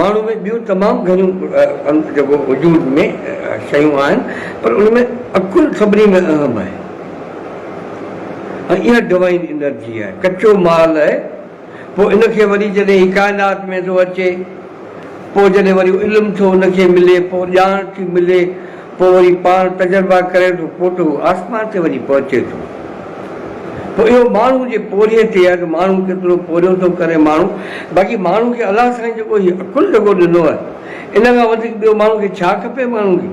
ماڻهو ۾ ٻيون تمام گهڻيون جيڪو وجود ۾ شيون آهن پر ان ۾ عقل سڀني ۾ اهم آهي ۽ اها ڊوائين انرجي آهي ڪچو مال آهي پوء ان کي وري جڏهن هي ڪائنات ۾ ٿو اچي پوء جڏهن وري علم ٿو ان کي ملي پوء ڄاڻ ٿي ملي پوء وري پاڻ تجربا ڪري ٿو پوٽو آسمان تي وڃي پهچي ٿو پوء اهو ماڻهو جي پورهيي تي آهي ته ماڻهو ڪيترو پورهيو ٿو ڪري ماڻهو باقي ماڻهو کي الله سائين جيڪو هي عقل جيڪو ڏنو آهي ان کان وڌيڪ ٻيو ماڻهو کي ڇا کپي ماڻهو کي